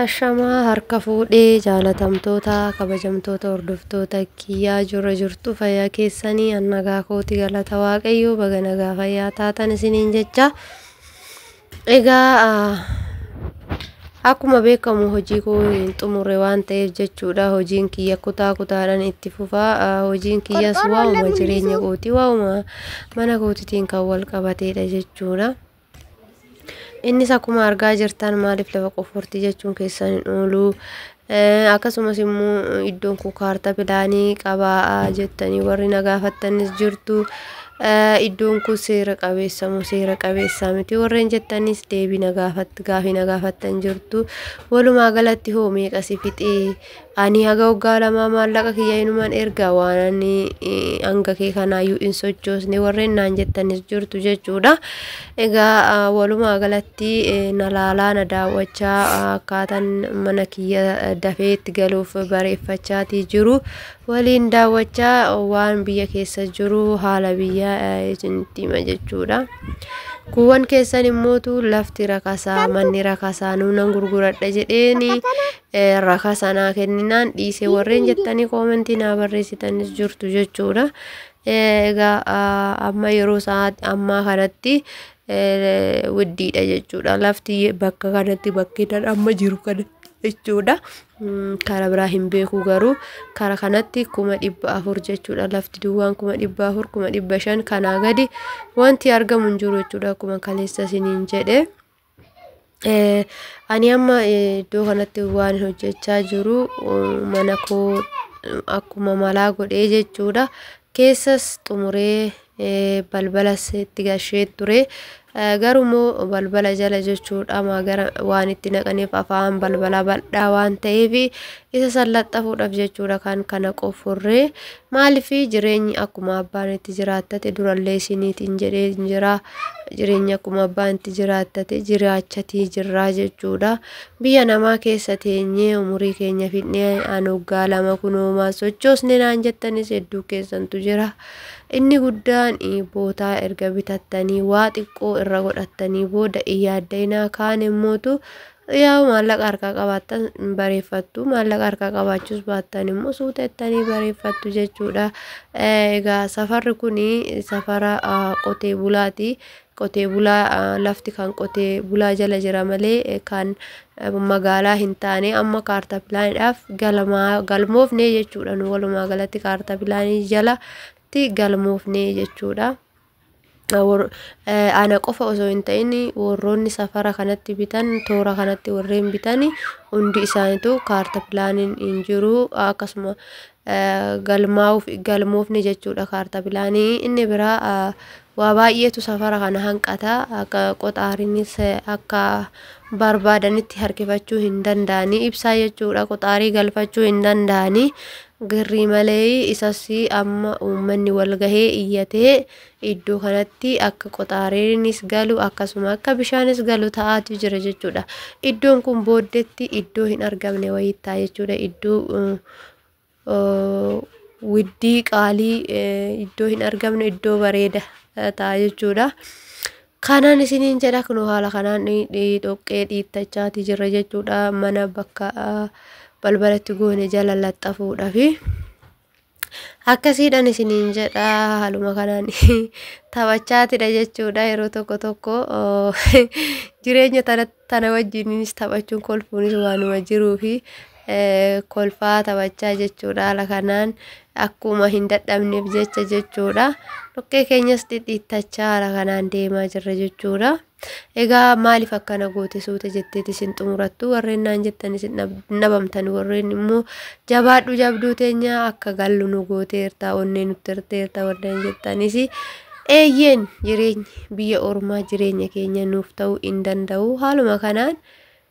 Ashamaa harka fuudhee jaalatamtoota kabajamtoota hordoftoota kiyyaa jirra jirtu fayyaa keessanii an nagaa kooti galata waaqayyoo baga nagaa fayyaa taatan isiniin jecha egaa ah, akkuma beekamu hojii koo hin xumurre waan ta'eef jechuudha hojiin kiyya kutaa kutaadhaan itti fufaa Ah, hojiin kiyyas waa'uma jireenya kooti waa'uma mana kootitiin kan wal qabateedha jechuudha. Innis akkuma argaa jirtan maaliif lafa qoffortii jechuun keessan hin oolu. Akkasumas immoo iddoon kun kaartaa pilaanii qabaa jettanii warri na gaafattanis jirtu. Iddoon kun seera qabeessa moo seera qabeessaa miti warreen jettanis deebii na gaafatti gaafii na gaafattan jirtu. Walumaa galatti hoo meeqa si fixee? Ani haga waggaa lamaa maallaqa kiyya inuman erga waan ani hanga kee kanaayyuu hin sochoosne warreen naan jettanis jirtu jechuudha. Egaa walumaa galatti na laalaa na daawwachaa akkaataan mana kiyya dafee itti galuuf bareeffachaatii jiru. Waliin daawwachaa waan biyya keessa jiru haala biyya isinitti hima jechuudha. Kuuwwan keessan immootu lafti rakasaa manni rakasaa nuunan gurguradha jedheeni rakasa naa kenninaan dhiise warreen jettanii koomentii naa barreessitanis jirtu jechuudha. Egaa amma yeroo sa'aati ammaa kanatti widdiidha jechuudha. Lafti bakka kanatti bakkeedhaan amma jiru kana jechuudha. Kara biraa hin beeku garuu kara kanatti kuma dhibba afur jechuudha. Lafti duwwaan kuma dhibba afur kuma dhibba shan kanaa gadi wanti argamu hin jiru jechuudha akkuma kaleessa isiniin jedhe. Eh, ani amma eh, iddoo kanatti waan hojjechaa jiru eh, mana koo eh, akkuma malaa godhee jechuudha keessas xumuree eh, balbalas itti gashee ture Eh, garuu immoo balbala jala jechuudha ma gara waan itti naqaniif afaan balbala bal'aa waan ta'eef isa san laxxafuudhaaf jechuudha kan kana qofurree Maaliif jireenyi akkuma abbaan itti jiraattate durallee isiniitiin jedhee jira. Jireenyi akkuma abbaan itti jiraattate jiraachatii jirraa jechuudha. Biyya namaa keessa teenyee umurii keenya fidnee an waggaa lama kunoomaa sochoosne naan jettanis hedduu keessantu jira. Inni guddaan bootaa erga bitattanii waa xiqqoo irra godhattanii booda iyyaaddainaa kaan immootu Yaa'u maallaqa harkaa qabaattan bareeffattu maallaqa harkaa qabaachuus baattan immoo suuta ittanii bareeffattu jechuudha. Egaa safarri kun safara qotee bulaati. Qotee bulaa lafti kan qotee bulaa jala jira malee kan magaalaa hin taane amma kaartaa pilaaniidhaaf galmaa galmoofne jechuudha. Nu walumaa galatti kaartaa pilaanii jalatti galmoofne jechuudha. Ana qofa osoo hin ta'in warroonni safara kanatti bitan toora kanatti warreen bitan hundi isaaniitu kaarta pilaaniin hin jiru akkasuma galmaa'uuf galmoofne jechuudha kaarta pilaanii inni biraa waa baay'eetu safara kana hanqata akka qoxaariinis akka barbaadanitti harkifachuu hin danda'anii ibsaa jechuudha qoxaarii galfachuu hin danda'anii Girrii malee isas amma uummanni wal gahee iyyatee iddoo kanatti akka qoxaareenis galu akkasuma akka bishaanis galu ta'aatu jira jechuudha. Iddoon kun booddetti iddoo hin argamne wayii ta'a jechuudha. Iddoo uh, uh, widdii qaalii eh, iddoo hin argamne iddoo bareeda eh, ta'a jechuudha. Kanan isiniin jedha kunoo haala kanaan dhoqqee dhiittachaati jirra jechuudha mana bakka balbalatti goone jala laxxafuudhafi. Akkasiidhan isiniin jedha haaluma kanaan taphachaatidha jechuudha yeroo tokko tokko jireenya tanatti Tana wajjininis taphachuun kolfuunis waanuma jiruufi kolfaa taphachaa jechuudha. Haala kanaan akkuma hin dadhabneef jecha jechuudha. Dhoqqee keenyas dhidhiittachaa haala kanaan deemaa jirra jechuudha. Egaa maaliif akkana goote suuta jetteeti isin xumurattu warreen naan jettan isin dhabamtan warreen immoo jabaadhu jabduu teenya akka gallu nu gooteerta onnee nutti hirteerta warreen jettanis Eeyyeen jireenyi biyya ormaa jireenya keenya nuuf ta'uu hin danda'u. Haaluma kanaan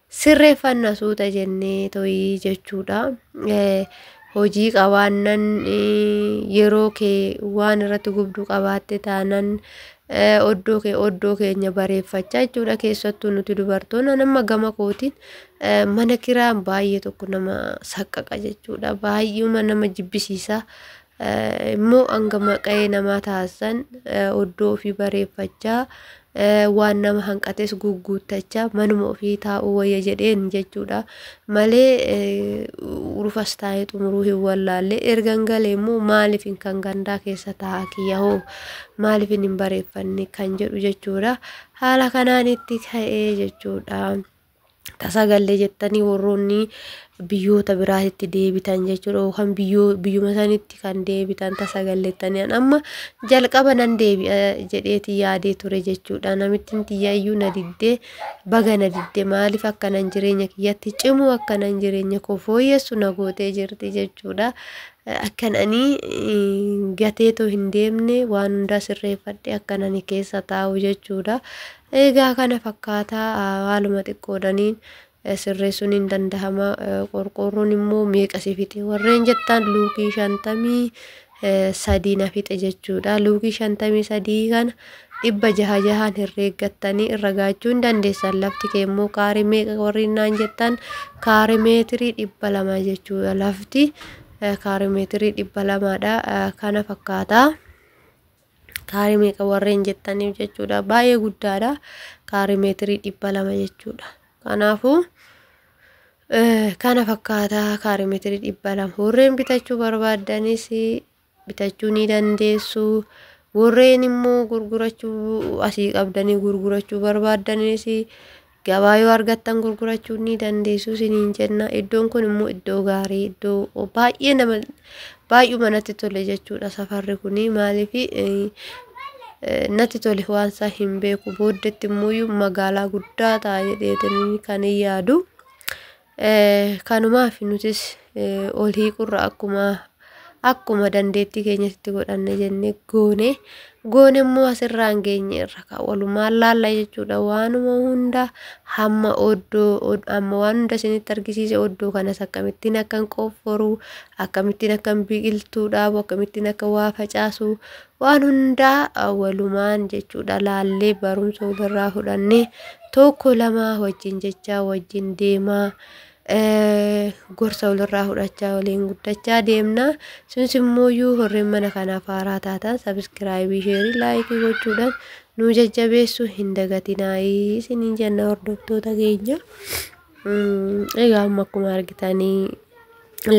sirreeffanna suuta jennee to'ii jechuudha. Eh, Hojii qabaannan eh, yeroo kee waan irratti gubdu qabaatte taanan eh, oddoo kee oddoo keenya bareeffachaa jechuudha. Keessattuu nuti dubartoonni nama gama kootiin eh, mana kiraan baay'ee tokko nama saqqaqa jechuudha. Baay'eema nama jibbisiisa. Eh, immoo hanga maqa'ee namaa taasisan eh, oddoo ofii bareeffachaa eh, waan nama hanqates gugguuttachaa manuma ofii taa'uu wayya jedheen jechuudha malee eh, urufas taa'ee xumuruu hin wallaalle ergan galee immoo maaliifin kan gandaa keessa taa'aa kiyya hoo maaliifin hin bareeffanne kan jedhu jechuudha haala kanaan itti ka'ee jechuudha. tasaa gallee jettanii warroonni biyyoota biraatitti deebitan jechuudha yookaan biyyoo biyyuma sanitti kan deebitan tasa galleettanii an amma jalqaba nan deebi'a jedheeti yaadee ture jechuudha namittiin tiyyaayyuu na diddee baga na diddee maaliif akkanan jireenya kiyyatti cimuu akkanan jireenya koo fooyyessu na gootee jirti jechuudha akkan ani gateetoo hin deemne waan hundaa sirreeffadhe akkan ani keessa taa'u jechuudha Egaa kana fakkaata haaluma xiqqoodhaniin sirreessuun hin dandahama qorqoorroon immoo meeqa si fixe warreen jettaan luukii shantamii sadii na fixe jechuudha luukii shantamii sadii kana dhibba jaha jahaan herreeggattanii irra gaachuu hin dandeessan lafti kee immoo kaarii meeqa warreen naan jettan kaarii meetirii dhibba lama jechuudha lafti kaarii meetirii dhibba lamaadha kana fakkaata. Kaarii meeqa warreen jettaniif jechuudha. Baay'ee guddaadha. Kaarii meetirii dhibba lama jechuudha. Kanaafuu kana fakkaataa kaarii meetirii dhibba lama. Warreen bitachuu barbaaddanis bitachuu ni dandeessu. Warreen immoo gurgurachuu asii qabdanii gurgurachuu barbaaddanis Gabaa yoo argattan gurgurachuu ni dandeessu isiniin jenna. Iddoon kun immoo iddoo gaarii iddoo baay'ee nama baay'uma natti tole jechuudha safarri kun maaliif natti tole waan isaa hin beeku booddetti immoo magaalaa guddaa ta'a jedheetiin kan yaadu. Kanumaaf nutis ol hiiqurra akkuma akkuma dandeettii keenyatti godhanne jennee goone goone immoo asirraan geenye irra ka walumaan laalla jechuudha waanuma hunda hamma oddoo amma waan hunda isinitti argisiise oddoo kanas akkamittiin akkan qofforu akkamittiin akkan biqiltuu dhaabu akkamittiin akka waa facaasu waan hundaa walumaan jechuudha laallee barumsa walirraa fudhannee tokko lama wajjin jechaa wajjin deemaa gorsa walirraa fudhachaa waliin guddachaa deemna sunis immoo iyyuu horreen mana kanaaf haaraa taatan sabiskiraayibii sheerii laayikii gochuudhaan nu jajjabeessu hin dagatinaa isiniin jenna hordoftoota keenya. Egaa amma akkuma argitanii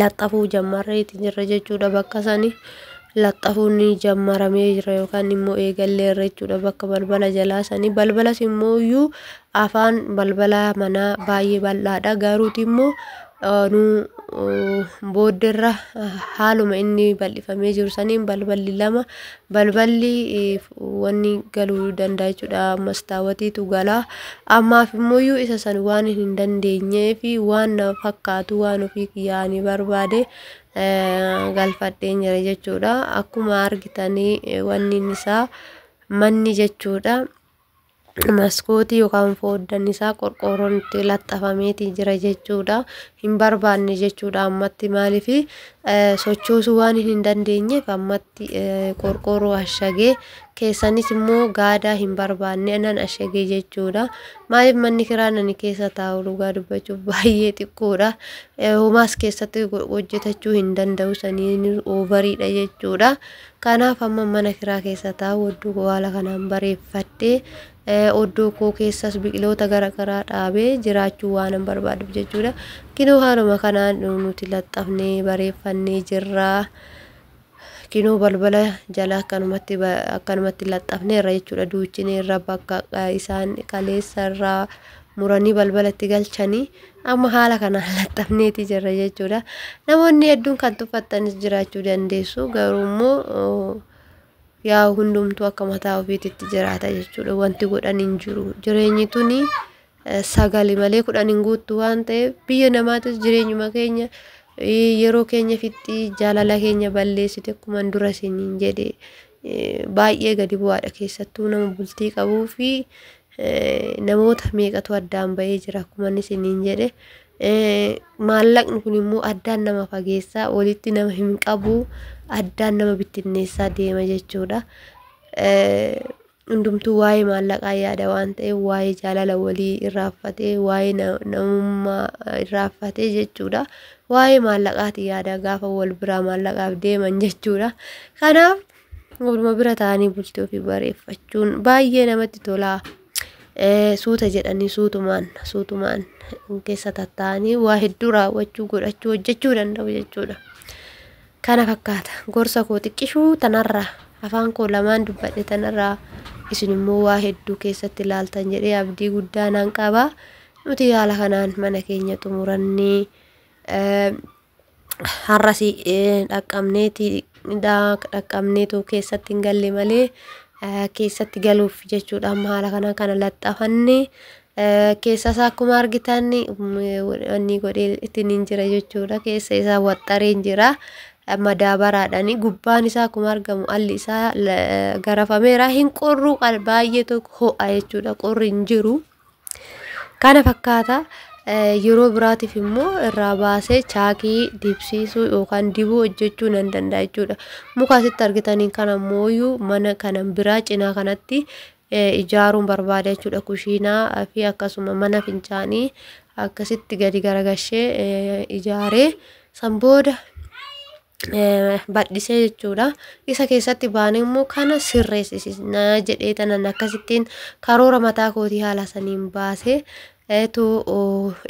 laxxafuu jammarreeti jirra jechuudha bakka sani. Laxxafuun ni jammaramee jira yookaan immoo eegallee irra jechuudha bakka balbala jalaa sani. Balbalas immoo iyyuu afaan balbala manaa baay'ee bal'aadha garuuti immoo nu boodderra haaluma inni bal'ifamee jiru saniin balballi lama balballi wanni galuu danda'a jechuudha mastaawatiitu gala ammaaf immoo isa san waan hin dandeenyee fi waan na fakkaatu waan ofii kiyyaanii barbaade galfadheen jira jechuudha akkuma argitanii wanni isaa manni jechuudha maskootii yookaan fooddan isaa qorqoorroon itti laxxafameeti jira jechuudha. Hin barbaanne jechuudha ammatti maaliif sochoosuu waan hin dandeenyeef ammatti qorqoorroo ashagee keessanis immoo gaadaa hin barbaanne nan ashagee jechuudha. Maaliif manni kiraa nani keessa taa'u dhugaa dubbachuuf baay'ee xiqqoodha. Homaas keessatti hojjetachuu hin danda'u saniin oovariidha jechuudha. Kanaaf amma mana kiraa keessa taa'u oddoo koo haala kanaan bareeffadhe oddoo koo keessas biqiloota garagaraa dhaabee jiraachuu waanan barbaaduuf jechuudha. Kinoo haaluma kanaan nuti laxxafnee bareeffannee jirra. Kinoo balbala jala akkanumatti akkanumatti laxxafnee irra jechuudha duuchinee irra bakka isaan kaleessa irraa muranii balbalatti galchanii Amma haala kanaan laxxafneeti jirra jechuudha. Namoonni hedduun kan tuffattanis jiraachuu dandeessu garuu immoo yaa hundumtuu akka mataa ofiititti jiraata jechuudha. Wanti godhan hin jiru. Jireenyi tuni sagali malee kudhan hin guuttu waan ta'eef biyya namaatis jireenyuma keenya yeroo keenya fixxii jaalala keenya balleessite akkuma dura isiniin jedhe baay'ee gadi bu'aadha keessattuu nama bultii qabuu fi namoota meeqatu addaan ba'ee jira akkuma inni isiniin jedhe maallaqni kun immoo addaan nama fageessaa walitti nama hin qabu addaan nama bittinneessaa deema jechuudha. Hundumtuu waa'ee maallaqaa yaada waan ta'eef waa'ee jaalala walii irraaffatee waa'ee namummaa irraaffatee jechuudha. waa'ee maallaqaati yaada gaafa wal biraa maallaqaaf deeman jechuudha. Kanaaf waluma bira ta'anii bultii ofii bareeffachuun baay'ee namatti tola. Suuta jedhanii suutumaan suutumaan keessa tattaa'anii waa hedduu raawwachuu godhachuu hojjechuu danda'u jechuudha. Kana fakkaata gorsa koo xiqqishuu tanarraa afaan koo lamaan dubbadhe tanarraa isin immoo waa hedduu keessatti ilaaltan jedhee abdii guddaa nan qaba. Nuti haala kanaan mana keenya xumuranne har'as dhaqqabneeti dhaqqabneetu keessatti hin galle malee keessatti galuuf jechuudha amma haala kanaan kana laxxafanne keessa isaa akkuma argitan wanni godhee ittiin hin jira jechuudha keessa isaa waxxareen jira madaabaraadhaan gubbaan isaa akkuma argamu alli isaa garafameera hin qorru baay'ee tokko ho'a jechuudha qorri hin jiru. Kana fakkaata yeroo biraatiif immoo irraa baasee chaakii dibsiisuu yookaan dibuu hojjechuu nan danda'a jechuudha. Muka asitti argitaniin kana mooyyuu mana kana biraa cinaa kanatti ijaaruun barbaada jechuudha. Kushiinaa fi akkasuma mana fincaanii akkasitti gadi garagashee ijaaree san booda badhisee jechuudha. Isa keessatti baanee immoo kana sirreessisna jedhee tanan akkasittiin karoora mataa kootii haala saniin baasee eetu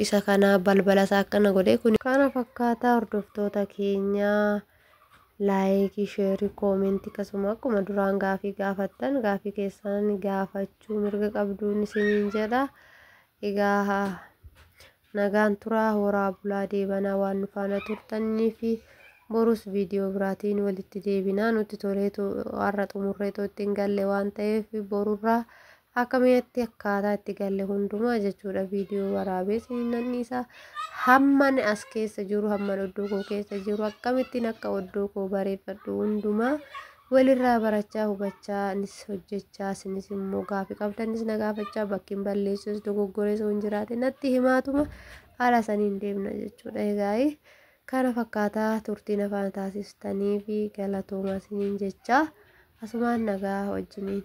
isa kana balbala isaa akkana godhee kun kana fakkaataa hordoftoota keenyaa laayikii sheerii koomentii akkasuma akkuma duraan gaafii gaafattan gaafii keessan gaafachuu mirga qabduun isiniin jedha egaa Nagaan turaa horaa bulaa deebanaa waan nu faana turtanniifi borus viidiyoo biraatiin walitti deebinaa nutti toleetu har'a xumurreetoo ittiin galle waan ta'eef borurraa akka mi'atti akkaataa itti galle hundumaa jechuudha viidiyoo waraabee siin nan dhiisa hamman as keessa jiru hamman oddoo koo keessa jiru akkamittiin akka oddoo koo bareeffadhu hundumaa Walirraa barachaa, hubachaa, nis hojjechaa, isinis immoo gaaffii qabdanis na gaafachaa, bakkiin balleessus dogoggores hin jiraate natti himaatuma haala saniin deemna jechuudha. Egaa kana fakkaataa turtii nafaa taasistanii fi galatoomaa isiniin jechaa asumaan nagaa wajjiniin.